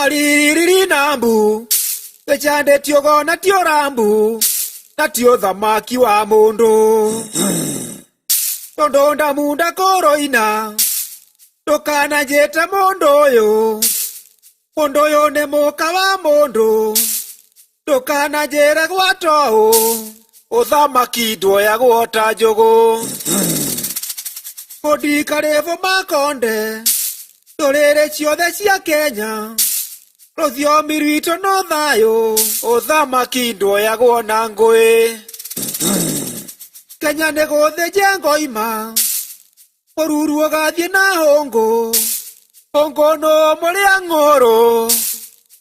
aririri na mbu gĩcande tiogo na tio rambu na tio thamaki wa mũndũ tondũ ndamunda kũroina ndũkananjĩte mũndũ ũyũ mũndũ ũyũ nĩ mũka wa mũndũ ndũkananjĩre gwata ũũ ũthamaki nduoyagwo ta njũgũ kũndikarĩbũ makonde ndũrĩrĩ ciothe cia kenya rũthiomi rwitũ no thayũ ũthamaki nduoyagwo na ngũĩ kenya nĩ gũthĩnje ngoima mũruru ũgathiĩ na hũngũ hũngũ nũ mũrĩa ng'ũrũ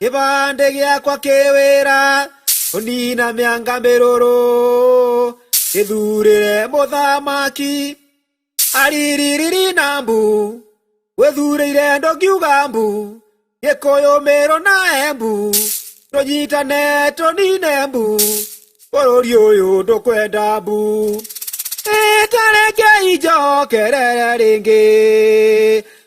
kĩbandĩ gĩakwa kĩ wĩra kũnina mĩanga mĩrũrũ gĩthurĩre mũthamaki ariririri na mbu gwĩthurĩire ndũngiuga mbu gĩkũyũ mĩrũ na embu tũnyitane tũnine mbu bũrũri ũyũ ndũkwenda mbu ĩtarekei njokerere rĩngĩ